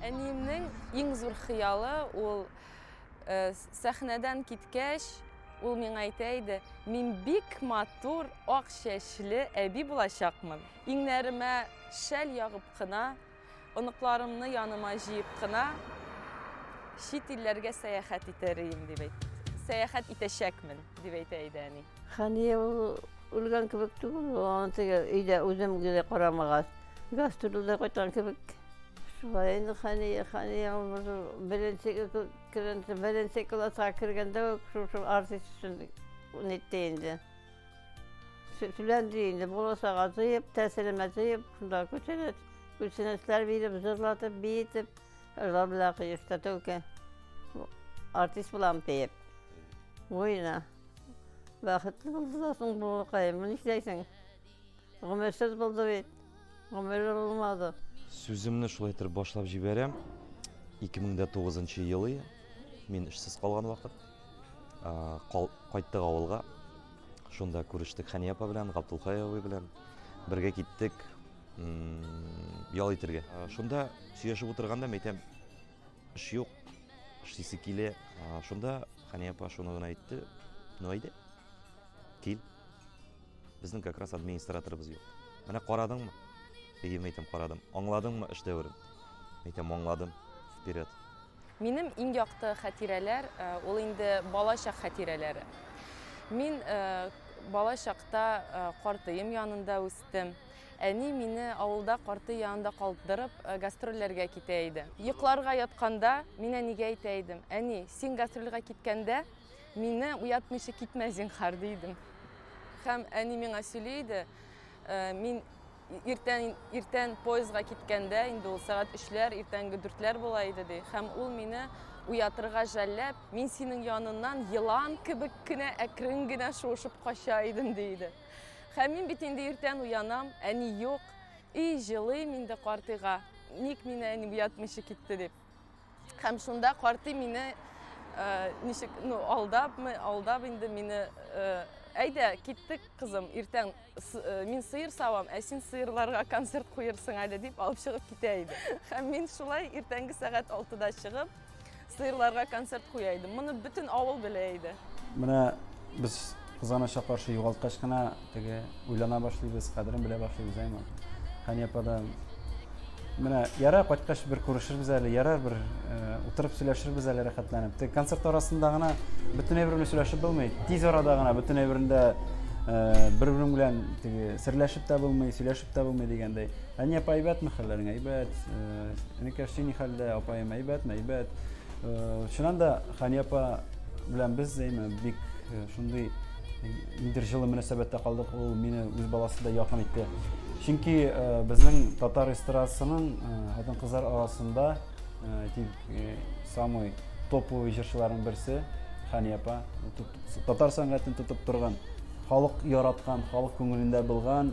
Әниемнең иң зур хыялы ул э, сәхнәдән киткәч, ул миңа әйтә иде, мин бик матур ак чәчле әби булачакмын. Иңнәремә шәл ягып кына, оныкларымны яныма җыеп кына чит илләргә сәяхәт итәрим дип әйтте. Сәяхәт итәчәкмен дип әйтә иде әни. Хәния ул үлгән кебек түгел, аны теге өйдә үзем генә карамагаз. Гастрольдә кайткан кебек. Шулай инде Хәния, Хәния ул беренче кергәндә, беренче класска кергәндә үк шушы артист өчен нитте инде. Сүләнде инде, буласага җыеп, тәсилемә җыеп, шунда күченә, күченәчләр биреп, җырлатып, биетеп, җырлар белән кыешта тәүкә. Артист булам диеп. Буена. Бәхетле булды да соң балакаем, нишләйсең? Гомерсез булды бит. Гомер булмады. Сүземне шулай итеп башлап җибәрәм. 2009 елы мин эшсез калган вакыт кайттык авылга. Шунда күрештек Хәния апа белән, Габдулхай абый белән. Бергә киттек ял итәргә. Шунда сөйләшеп утырганда мәйтәм, Эш юк, эшлисе килә. Шунда Хәния апа шуны гына әйтте. Ну әйдә, кил. Безнең как раз администраторыбыз юк. Менә карадыңмы? Әйе, әйтәм, карадым. Аңладыңмы эш дәверен? Әйтәм, аңладым. Вперед. Минем иң якты хәтирәләр, э, ул инде бала чак хәтирәләре. Мин э, бала чакта э, картыем янында үстем. киттем. Әни мине авылда карты янында калдырып, гастрольләргә китә иде. Йокларга ятканда, мин әнигә әйтә идем, Әни, син гастрольгә киткәндә, мине уятмыйча китмә, зинһар, ди идем. Һәм әни миңа сөйли иде, мин иртән, иртән поездга киткәндә, инде ул сәгать өчләр, иртәнге дүртләр була иде, ди. Һәм ул мине уятырга жәлләп, мин синең яныннан елан кебек кенә әкрен генә шуышып кача идем, ди иде. Һәм мин бит инде иртән уянам, әни юк. И, җылыйм инде картыйга. Ник мине әни уятмыйча китте дип. Һәм шунда картый мине э, ничек, ну, алдапмы, алдап инде мине э, Әйдә, киттек, кызым, иртән э, мин сыйыр савам, ә син сыйырларга концерт куерсың әле дип алып чыгып китә иде. Һәм мин шулай иртәнге сәгать 6-да чыгып, Сыерларга концерт куя идем. Моны бөтен авыл белә иде. Менә без кызганычка каршы югалткач кына теге уйлана башлыйбыз, кадерен белә башлыйбыз, әйме. Хәния ападан Менә яра кайткач бер күрешербез әле, ярар бер э, утырып сөйләшербез әле рәхәтләнеп. Тик концерт арасында гына бөтен әйбер белән сөйләшеп булмый. Тиз арада гына бөтен әйберендә э, бер-бер белән теге серләшеп тә булмый, сөйләшеп тә булмый дигәндәй. Әни апа әйбәтме хәлләрең? Әйбәт. Энекәш син ни хәлдә? Апаем әйбәтме? Әйбәт. Чыннан да Хани апа белән без әйме бик шундый ниндер җылы мөнәсәбәттә калдык. Ул мине үз баласыдай якын итте. Чөнки безнең татар эстрадасының хатын-кызлар арасында әйтик самый топовый җырчыларның берсе Хани апа. Татар сәнгатен тотып торган, халык яраткан, халык күңелендә булган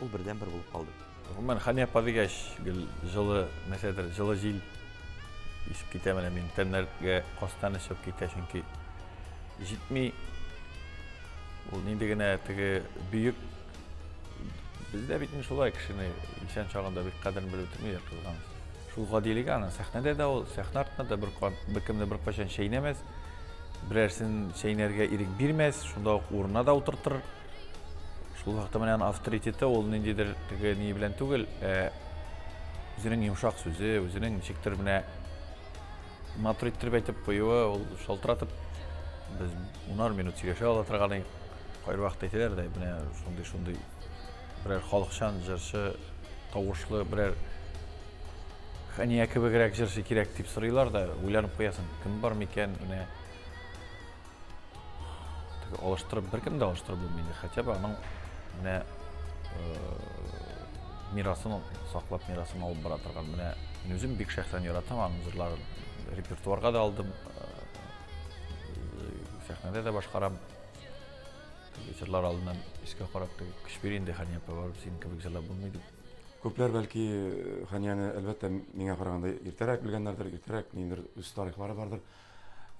Ул бердән бер булып калды. Гомумән, Хания апа дигәч, гел җылы, нәрсәдер, җылы җил исеп китә менә мин. Тәннәргә кастан эчеп китә, чөнки җитми. Ул нинди генә теге бөек Бездә бит шулай кешене исән чагында бик кадерен белеп үтмиләр кызганыч. Шул гадилеге аны сәхнәдә дә ул, сәхнә артында да бер кан, беркемне беркайчан чәйнәмәс, берәрсен чәйнәргә ирек бирмәс, шунда ук урынына да утыртыр. Шул вакытта менә аны авторитеты ул ниндидер теге ни белән түгел, ә үзенең йомшак сүзе, үзенең ничектер менә матур иттереп әйтеп куюы, ул шалтыратып без унар минут сөйләшә ала торган идек. Кайбер вакытта әйтәләр дә, менә шундый шундый берәр халыкчан җырчы тавышлы берәр Хәния кебегрәк җырчы кирәк дип сорыйлар да, уйланып куясың, кем бар микән, менә Алыштырып, беркем дә алыштырып булмый. Хотя бы аның менә мирасын саклап, мирасын алып бара торган. Менә мин үзем бик шәхсән яратам аның җырларын. Репертуарга да алдым. Сәхнәдә дә башкарам. Җырлар алдыннан искә карап, көч бир инде, Хания апа, барып синең кебек җырлап булмый дип. Күпләр бәлки Ханияне әлбәттә миңа караганда иртәрәк белгәннәрдер, иртәрәк ниндер үз тарихлары бардыр.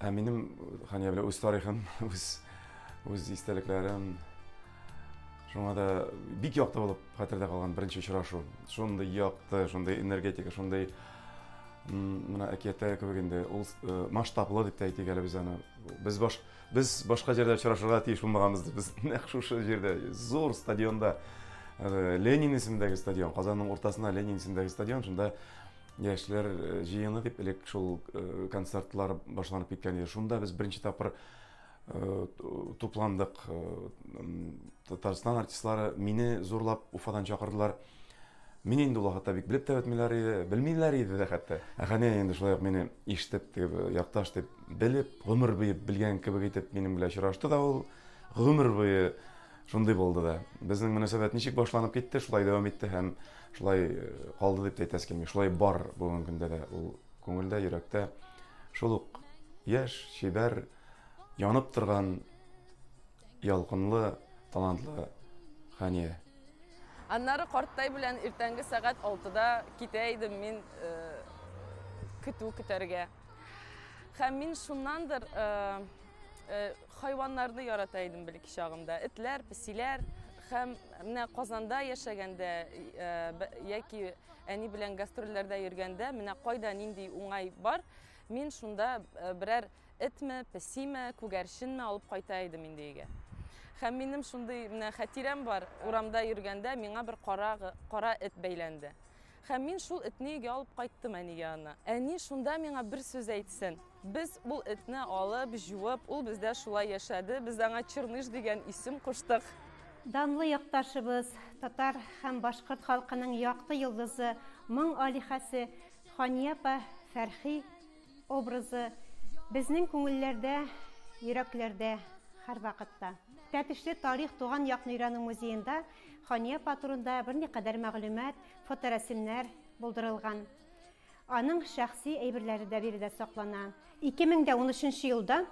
Ә минем Хания белән үз тарихым, үз, үз истәлекләрем. Шуңа да бик якты булып хәтердә калган беренче очрашу. Шундый якты, шундый энергетика, шундый мына әкияттә кебек инде ул э, масштаблы дип тә әйтик әле без аны. Без баш без башка җирдә очрашырга тиеш булмаганбыз. Без нәкъ шушы җирдә, зур стадионда Ленин исемендәге стадион, Казанның уртасына Ленин исемендәге стадион, шунда Яшьләр э, җыены дип элек шул э, концертлар башланып киткән иде. Шунда без беренче тапкыр э, тупландык. Татарстан артистлары мине зурлап Уфадан чакырдылар. Мин инде ул вакытта бик белеп тә бетмиләр иде, белмиләр иде дә хәтта. Ә Хәния инде шулай ук мине ишетеп, якташ дип белеп, гомер буе белгән кебек итеп минем белән очрашты да ул. Гомер буе Шундый булды да. Безнең мөнәсәбәт ничек башланып китте, шулай дәвам итте һәм шулай калды дип тә әйтәсе килми. Шулай бар бүгенге көндә дә ул күңелдә, йөрәктә. Шул ук яшь, чибәр, янып торган ялкынлы, талантлы Хәния. Аннары карттай белән иртәнге сәгать алтыда китә идем мин э, көтү көтәргә. Һәм мин шуннандыр э, э, Хайваннарны ярата идем бәлки чагымда. Этләр, песиләр һәм менә Казанда яшәгәндә э, яки әни белән гастрольләрдә йөргәндә менә кайда нинди уңай бар, мин шунда э, берәр этме, песиме, күгәрченме алып кайта идем инде өйгә. Һәм минем шундый менә хәтирәм бар, урамда йөргәндә миңа бер кара, кара эт бәйләнде. Һәм мин шул этне өйгә алып кайттым әнигә аны. Әни шунда миңа бер сүз әйтсен. Без ул этне алып, җуып, ул бездә шулай яшәде, без аңа Черныш дигән исем куштык. Данлы якташыбыз, татар һәм башкорт халкының якты йолдызы, моң алиһәсе Хания апа Фәрхи образы безнең күңелләрдә, йөрәкләрдә һәрвакытта. Тәтешле тарих туган якны өйрәнү музеенда Хания апа турында берникадәр мәгълүмат, фоторәсемнәр булдырылган. Аның шәхси әйберләре дә биредә саклана. 2013 елда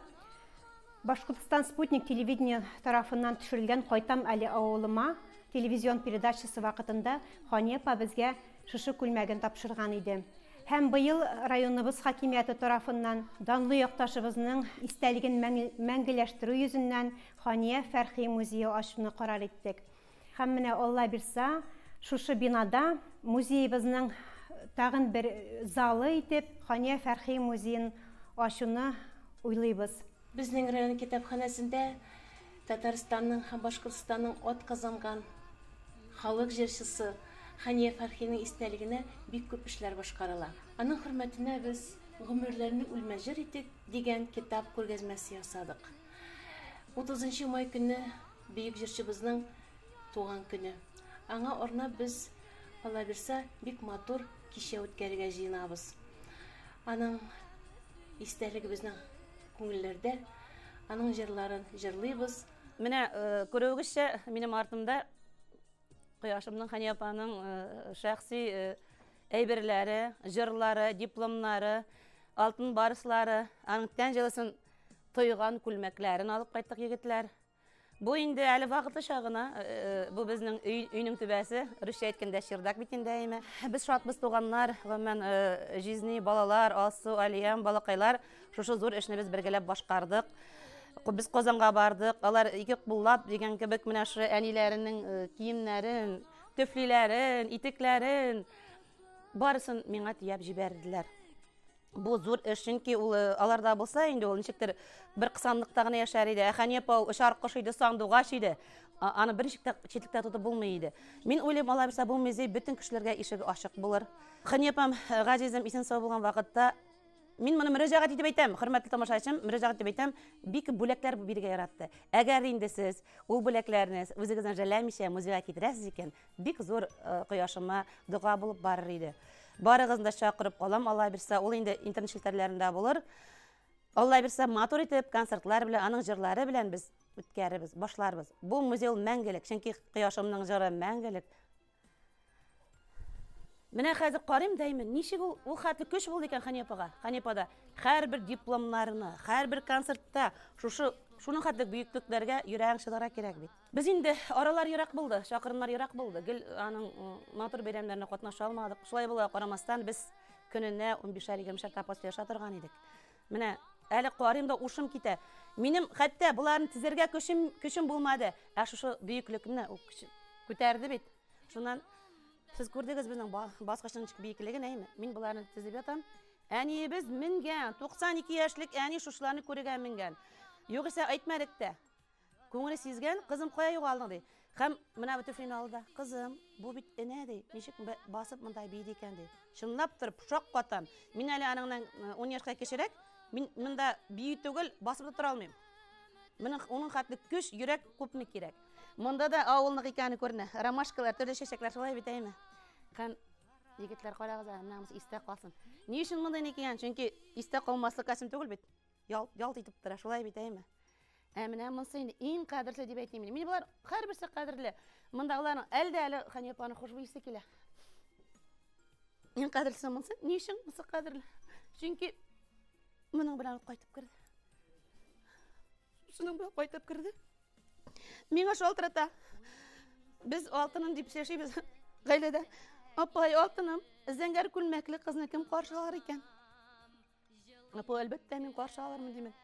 Башкортстан Спутник телевидение тарафыннан төшерелгән Кайтам әле авылыма телевизион передачасы вакытында Хания апа безгә шушы күлмәген тапшырган иде. Һәм быел районыбыз хакимияте тарафыннан данлы якташыбызның истәлеген мәңгеләштерү йөзеннән Хания Фәрхи музее ачуны карар иттек. Һәм менә Алла бирса, шушы бинада музеебызның тагын бер залы итеп Хания Фәрхи музеен ачуны уйлыйбыз. Безнең район китапханәсендә Татарстанның һәм Башкортстанның атказанган халык җырчысы Хания Фәрхинең истәлегенә бик күп эшләр башкарыла. Аның хөрмәтенә без Гомерләрне үлмәс җыр итик дигән китап күргәзмәсе ясадык. Утызынчы май көнне Бөек җырчыбызның туган көне. Аңа арнап без калабирса бик матур кичә үткәрергә җыенабыз. Аның истәлеге безнең күңелләрдә. Аның җырларын җырлыйбыз. Менә күрүегезчә, минем артымда Кояшымның, Хәния апаның шәхси әйберләре, җырлары, дипломнары, алтын барслары, аның тән җылысын тойган күлмәкләрен алып кайттык, егетләр. Бу инде әле вакытлыча гына. Бу безнең өй, өйнең түбәсе. Русча әйткәндә чердак бит инде әйме. Без шатбыз туганнар, гомумән, җизни, балалар, Алсу, Алиям, балакайлар. Шушы зур эшне без бергәләп башкардык. Без Казанга бардык. Алар ике куллап дигән кебек менә шул әниләренең киемнәрен, төфлиләрен, итекләрен барысын миңа төяп җибәрделәр. Бу зур эш, чөнки ул э, аларда булса инде ул ничектер бер кысанлыкта гына яшәр иде. Ә Хәния апа очар кош иде, сандугач иде. А- Аны бер ничек тә читлектә тотып булмый иде. Мин уйлыйм, алай булса бу музей бөтен кешеләргә ишеге ачык булыр. Хәния апам, э, газизем исән сау булган вакытта Мин моны мөрәҗәгать итеп әйтәм, хөрмәтле тамашачым, мөрәҗәгать итеп әйтәм, бик күп бүләкләр бирергә яратты. Әгәр инде сез ул бүләкләрне үзегездән жәләмичә музейга китерәсез икән, Бик зур кояшыма дога булып барыр иде. Барыгызны да чакырып калам, Алла бирсә, ул инде интернет челтәрләрендә булыр. Алла бирсә, матур итеп концертлар белән, аның җырлары белән без үткәребез, башларбыз. Бу музей ул мәңгелек, чөнки кояшымның җыры мәңгелек. Менә хәзер карыйм дәймен, ничек ул ул хәтле көч булды икән Ханепага, Ханепада. Һәрбер дипломнарны, һәрбер концертта шушы шуның хәтле бөеклекләргә йөрәгең чыдара кирәк бит. Без инде аралар ерак булды, чакырымнар ерак булды. Гел аның матур бәйрәмнәренә катнаша алмадык. Шулай була карамастан без көненә 15-шәр, 20-шәр тапоста яша торган идек. Менә әле карыйм да ушым китә. Минем хәтта боларын тизәргә көчем көчем булмады. Ә шушы бөеклекне ул күтәрде бит. Шуннан сез күрдегез безнең баскычның биеклеген, әйме? Мин боларны тизеп ятам. Әниебез менгән, 92 яшьлек әни шушыларны күрергә менгән. Югыйсә әйтмәдек тә. Күңеле сизгән, кызым, кая югалдың, ди. Һәм менә бу төфлине алды да, кызым, бу бит энә, ди, ничек басып монда бийде икән, ди. Чынлап тор, шак катам. Мин әле аныңнан э, ун яшькә кечерәк, мин монда бию түгел, басып та тора алмыйм. Менің оның хәтле көч, йөрәк күпме кирәк. Монда да авылнық икәне күренә. Ромашкалар, төрле чәчәкләр шулай бит әйме. Һәм егетләр карагыз, намус истә калсын. Ни өчен монда икән? Чөнки истә калмаслык әсен түгел бит. Ялт, ялт итеп тора, шулай бит, әйме? Ә менә монсы инде иң кадерле дип әйтмим. Мин болар һәрберсе кадерле. Мондагыларның әлдә әле Ханипаның хушбуй исе килә. Иң кадерлесе монсы. Ни өчен монсы кадерле? Чөнки моның белән кайтып керде. Шуның белән кайтып керде. Миңа шалтырата. Без алтынын дип сөйләшибез гаиләдә. Апай, алтыным, зәңгәр күлмәкле кызны кем каршылар икән? Апа, әлбәттә, мин каршы алырмын димен.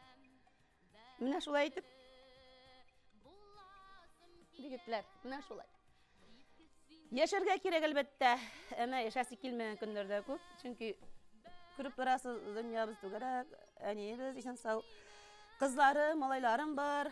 Менә шулай итеп. Дигетләр, менә шулай. Яшәргә кирәк әлбәттә. Әмә яшәсе килмәгән көннәр дә күп. Чөнки күреп торасыз, дөньябыз түгәрәк. Әниебез исән сау. Кызлары, малайларым бар.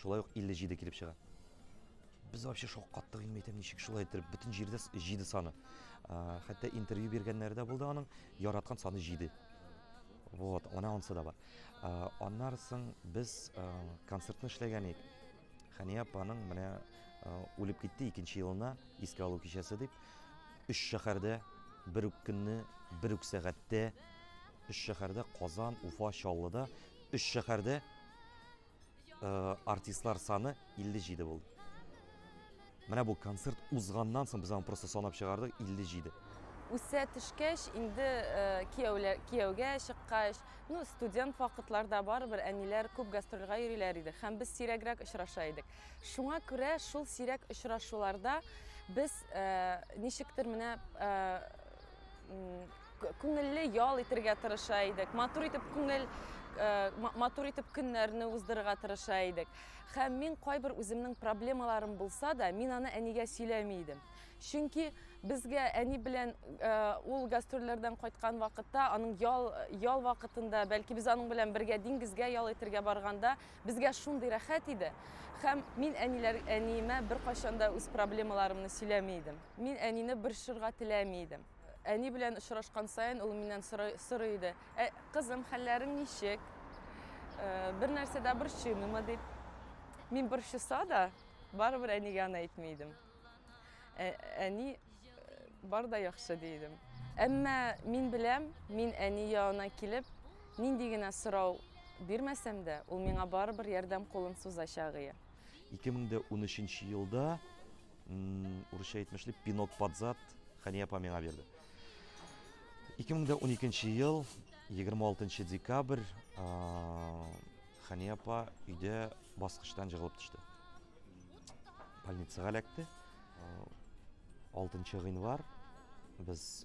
Шулай ук 57 килеп чыга. Без вообще шок каттык, мин әйтәм, ничек шулай иттереп, бөтен җирдә 7 саны. Хәтта интервью биргәннәре дә булды аның, яраткан саны 7. Вот, она онсы да бар. Аннары соң без концертны эшләгән идек. Хәния апаның менә үлеп китте икенче елына искә алу кичәсе дип, өч шәһәрдә бер үк көнне, бер үк сәгатьтә, өч шәһәрдә Казан, Уфа, Чаллыда, өч шәһәрдә э, артистлар саны 57 булды. Менә бу концерт узганнан соң без аны просто санап чыгардык 57. Үсә төшкәч, инде э, кияүләр кияүгә чыккач, ну студент вакытларда барыбер әниләр күп гастрольгә йөриләр иде һәм без сирәгрәк очраша идек. Шуңа күрә шул сирәк очрашуларда без э, ничектер менә э, күңелле ял итергә тырыша идек, матур итеп күңел э, матур итеп көннәрне уздырырга тырыша идек. Һәм мин кайбер үземнең проблемаларым булса да, мин аны әнигә сөйләми идем. Чөнки безгә әни белән э, ул гастрольләрдән кайткан вакытта, аның ял, ял вакытында, бәлки без аның белән бергә диңгезгә ял итергә барганда, безгә шундый рәхәт иде. Һәм мин әниләр, әниемә бер кайчанда үз проблемаларымны сөйләми идем. Мин әнине борчырга теләми идем. Әни белән очрашкан саен ул миннән сорый иде, Ә, кызым, хәлләрең ничек? Бер нәрсә дә борчыймыймы дип. Мин борчыса да, барыбер әнигә аны әйтми идем. Әни, бар да яхшы, ди идем. Әмма мин беләм, мин әни янына килеп, нинди генә сорау бирмәсәм дә, ул миңа барыбер ярдәм кулын сузачагые. 2013 елда Урысча әйтмешли, пинок под зад Хәния апа миңа бирде. 2012 ел 26 декабрь Хәния апа өйдә баскычтан җыгылып төште. Больницага эләкте. 6 гыйнвар без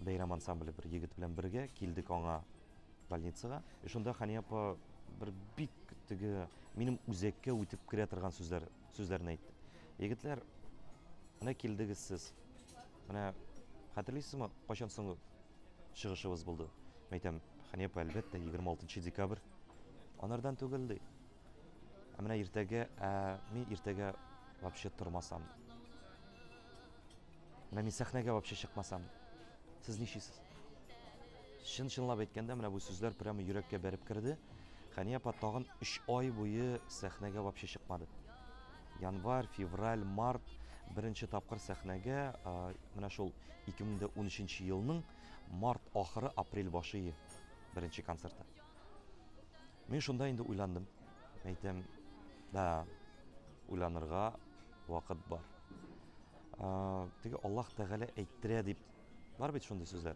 Бәйрәм ансамбле бер егет белән бергә килдек аңа Больницага. И шунда Хания апа бер бик теге минем үзәккә үтеп керә торган сүзләр сүзләрне әйтте. Егетләр, менә килдегез сез. Менә хәтерлисезме, кайчан соңгы чыгышыбыз булды? Мин әйтәм, Хания апа, әлбәттә, 26 декабрь. Анардан түгел ди. Ә менә иртәгә, ә мин иртәгә вообще тормасам. Менә мин сәхнәгә вообще чыкмасам. Сез ничисез? Чын-чынлап әйткәндә, менә бу сүзләр прямо йөрәккә бәреп керде. Хәния апа тагын өч ай буе сәхнәгә вообще чыкмады. Январь, февраль, март беренче тапкыр сәхнәгә менә шул 2013 елның март ахыры, апрель башы беренче концерты. Мин шунда инде уйландым. Әйтәм, да, уйланырга вакыт бар. Теге Аллаһ Тәгалә әйттерә дип бар бит шундый сүзләр.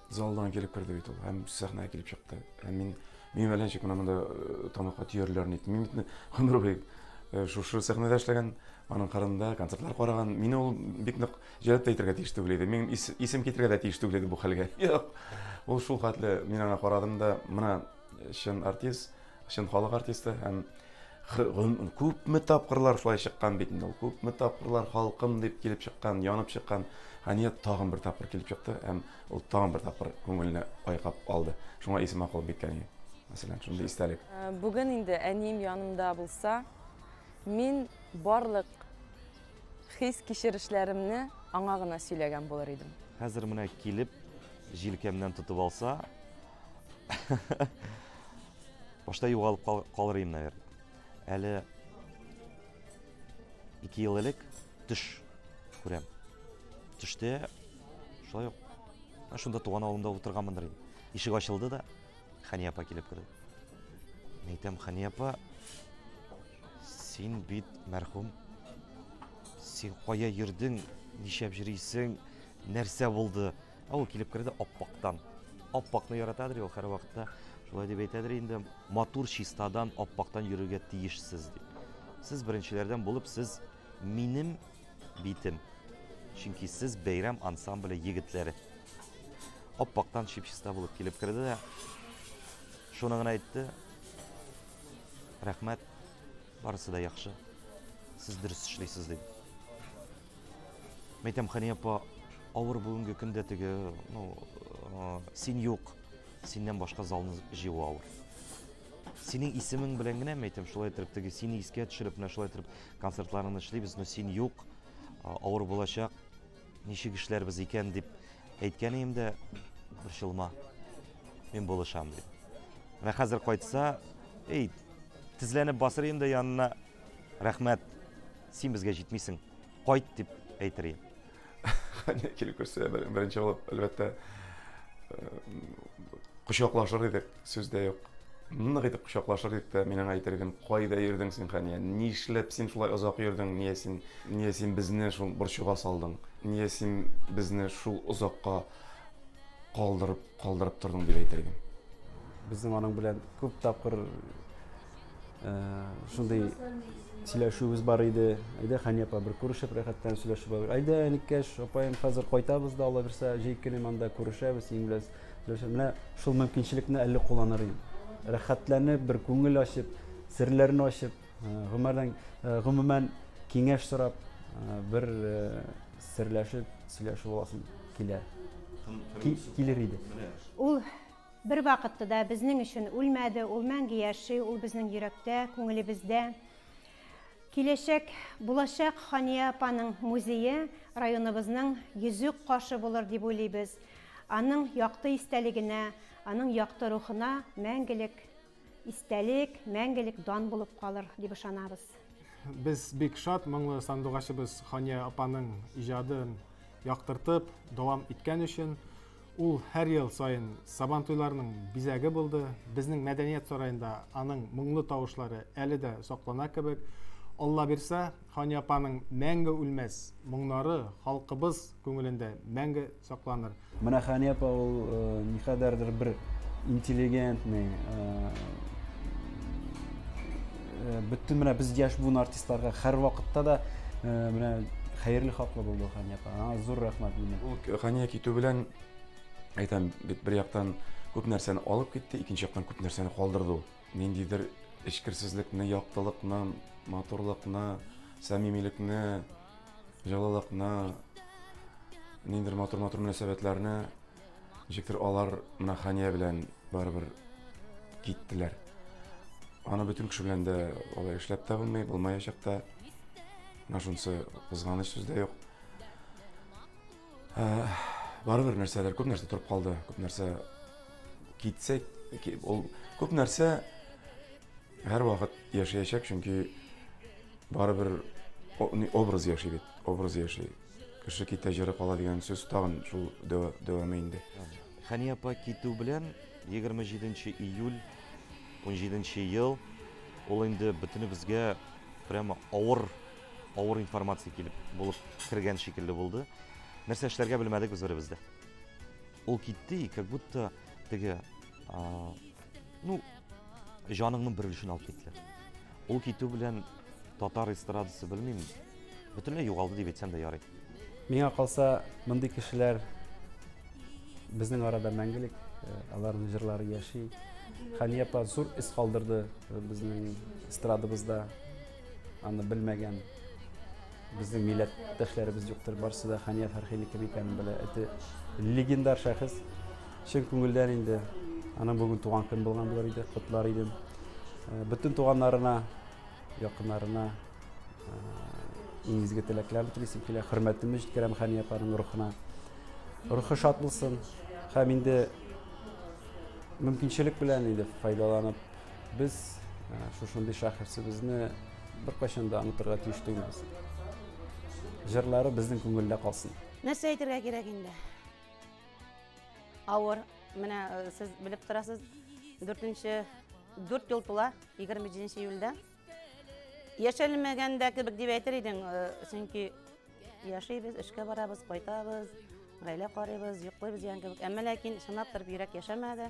Залдан килеп керде бит ул һәм сәхнәгә килеп чыкты. Һәм мин мин белән ничек менә монда э, тамакка төярләрен әйттем. Мин бит гомер буе э, шушы сәхнәдә эшләгән, аның кырында концертлар караган. Мине ул бик нык җәлеп тә итәргә тиеш түгел иде. Мин ис, исем китергә дә тиеш түгел иде бу хәлгә. Юк. Ул шул хәтле мин аңа карадым да, менә чын артист, чын халык артисты һәм Күпме тапкырлар шулай чыккан бит инде ул. Күпме тапкырлар халкым дип килеп чыккан, янып чыккан. Хәния тагын бер тапкыр килеп чыкты һәм ул тагын бер тапкыр күңелне айкап алды. Шуңа исемә калып бик әни. Мәсәлән, шундый истәлек. Бүген инде әнием янымда булса, мин барлык хис-кичерешләремне аңа гына сөйләгән булыр идем. Хәзер менә килеп, җилкәмнән тотып алса, башта югалып кал, калыр идем наверное әле ике ел элек төш күрәм төштә шулай ук шунда туган авылымда утырганмындыр инде ишек ачылды да хәния апа килеп керде мен әйтәм хәния апа син бит мәрхүм син кая йөрдең нишләп йөрисең нәрсә булды Ә ул килеп керде аппактан. Аппакны яратадыр ул һәр вакытта. Шулай дип әйтәдер инде, матур чистадан аппактан йөрергә тиешсез дип. Сез беренчеләрдән булып, сез минем битем. Чөнки сез бәйрәм ансамбле егетләре. Аппактан чип-чиста булып килеп керде дә, шуны гына әйтте. Рәхмәт, барысы да яхшы. Сез дөрес эшлисез дип. Мәйтәм, Хәния апа, авыр бүгенге көндә теге, ну, э, син юк, синнән башка залны җыю авыр. Синең исемең белән генә мәйтәм, шулай итеп теге сине искә төшереп, менә шулай итеп концертларны эшлибез, но син юк, э, авыр булачак. Ничек эшләрбез икән дип әйткән идем дә, борчылма. Мин булышам дип. Менә хәзер кайтса, эй, тезләнеп басыр инде янына. Рәхмәт, син безгә җитмисең, кайт дип әйтер идем. Хәнә килеп күрсә, беренче булып, әлбәттә, кочаклашыр идек, сүз дә юк. Нык итеп кочаклашыр идек тә, мин аңа әйтер идем, кайда йөрдең син, Хәния? Нишләп син шулай озак йөрдең? Нигә син, нигә син безне шул борчуга салдың? Нигә син безне шул озакка калдырып, калдырып тордың дип әйтер идем. Безнең аның белән күп тапкыр шундый сөйләшүебез бар иде әйдә хәни апа бер күрешеп рәхәттән сөйләшеп алыйк әйдә әнекәш апаем хәзер кайтабыз да алла бирсә җәй көне монда күрешәбез синең белән менә шул мөмкинчелекне әле кулланыр идем рәхәтләнеп бер күңел ачып серләрне ачып гомердән гомумән киңәш сорап бер серләшеп сөйләшеп аласым килә килер иде ул Бервакытта да безнең өчен үлмәде, ул мәңге яши, ул безнең йөрәктә, күңелебездә. Киләчәк, булачак Хания апаның музее районыбызның йөзек кашы булыр дип уйлыйбыз. Аның якты истәлегенә, аның якты рухына мәңгелек Истәлек, мәңгелек дан булып калыр, дип ышанабыз. Без бик шат, моңлы сандугачыбыз Хания апаның иҗадын яктыртып дәвам иткән өчен. Ул һәр ел саен Сабантуйларның бизәге булды. Безнең мәдәният сараенда аның моңлы тавышлары әле дә саклана кебек. Алла бирсә, Хания апаның мәңге үлмәс моңнары халкыбыз күңелендә мәңге Сакланыр. Менә Хәния апа ул никадәрдер бер интеллигентный, бөтен менә без яшь буын артистларга һәр вакытта да менә хәерле хаклы булды Хәния апа. Аңа зур рәхмәт мине. Ул Хәния китү белән әйтәм, бит бер яктан күп нәрсәне алып китте, икенче яктан күп нәрсәне калдырды ул. Ниндидер эчкерсезлекне, яктылыкны, матурлыкны, сәмимилекне, җылылыкны, ниндидер матур-матур мөнәсәбәтләрне ничектер алар менә Хания белән барыбер киттеләр. Аны бөтен кеше белән дә алай эшләп тә булмый, булмаячак та. Менә шунысы кызганыч сүз дә юк. Ә, барыбер нәрсәләр, күп нәрсә торып калды, күп нәрсә китсә, ки- ул күп нәрсә Һәрвакыт яшәячәк, чөнки барыбер образ яши бит, образ яши. Кеше китә, җыры кала дигән сүз тагын шул дәвамы инде. Хәния апа китү белән 27 июль 17 ел ул инде бөтенебезгә прямо авыр авыр информация килеп булып кергән шикелле булды. Нәрсә эшләргә белмәдек без беребез дә. Ул китте, как будто теге Ну, җаныңның бер өлешен алып китте. Ул китү белән татар эстрадасы белмим, бөтенләй югалды дип әйтсәм дә ярый. Миңа калса, мондый кешеләр безнең арада мәңгелек, э, аларның җырлары яши. Хания апа зур эз калдырды э, безнең эстрадабызда. Аны белмәгән безнең милләттәшләребез юктыр. Барсы да Хания Фәрхини кем икәнен белә. Эте легендар шәхес. Чын күңелдән инде аның бүген туган көн булган булыр иде. Котлар идем. Э, бөтен туганнарына, якыннарына э, иң изге теләкләрне телисем килә. Хөрмәтемне җиткерәм Хания апаның рухына. Рухы шат булсын. Һәм инде мөмкинчелек белән инде файдаланып Без шушындый шәхесебезне беркайчан да онытырга тиеш түгелбез. Җырлары безнең күңелдә калсын. Нәрсә әйтергә кирәк инде? Авыр. Менә сез белеп торасыз, 4-нче 4 ел тула 27 июльдә. Яшәлмәгәндә кебек дип әйтер идең, чөнки яшибез, эшкә барабыз, кайтабыз, гаилә карыйбыз, йоклыйбыз дигән кебек. Әмма ләкин чынлап торып йөрәк яшәмәде.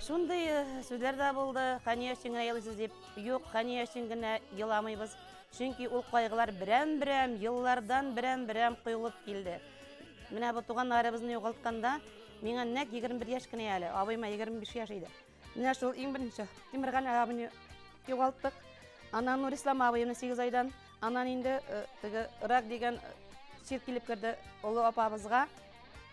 Шундый э, сүзләр дә булды, хәния өчен генә елыйсыз дип. Юк, хәния өчен генә еламыйбыз. Чөнки ул кайгылар берәм-берәм, еллардан берәм-берәм коелып килде. Менә бу туганнарыбызны югалтканда, миңа нәк 21 яшь кенә әле, абыйма 25 яшь иде. Менә шул иң беренче Тимерган абыйны югалттык. Аннан Нурислам абыйны 8 айдан, аннан инде э, теге рак дигән чир э, килеп керде олы апабызга.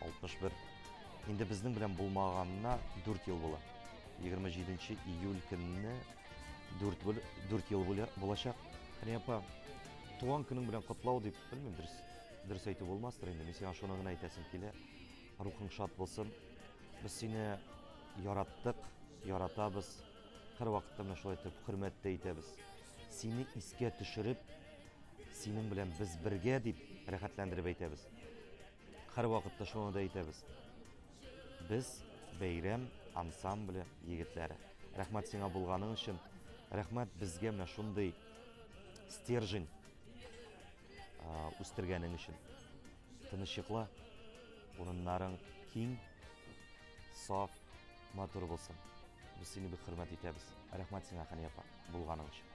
61. Инде безнең белән булмаганына 4 ел була. 27 июль көнне 4 бер 4 ел булачак. Хәни апа, туган көнең белән котлау дип, белмим, дөрес дөрес әйтү булмастыр инде. Мин сиңа шуны гына әйтәсем килә. Рухың шат булсын. Без сине яраттык, яратабыз. Һәр вакытта менә шулай итеп хөрмәттә итәбез. Сине искә төшереп, синең белән без бергә дип рәхәтләндереп әйтәбез. Һәрвакытта шуны да әйтәбез. Без бәйрәм ансамбле егетләре. Рәхмәт сиңа булганың өчен. Рәхмәт безгә менә шундый стержень үстергәнең өчен. Тынычлыкла, урыннарың киң, саф, матур булсын. Без сине бик хөрмәт итәбез. Рәхмәт сиңа, Хәния апа, булганың өчен.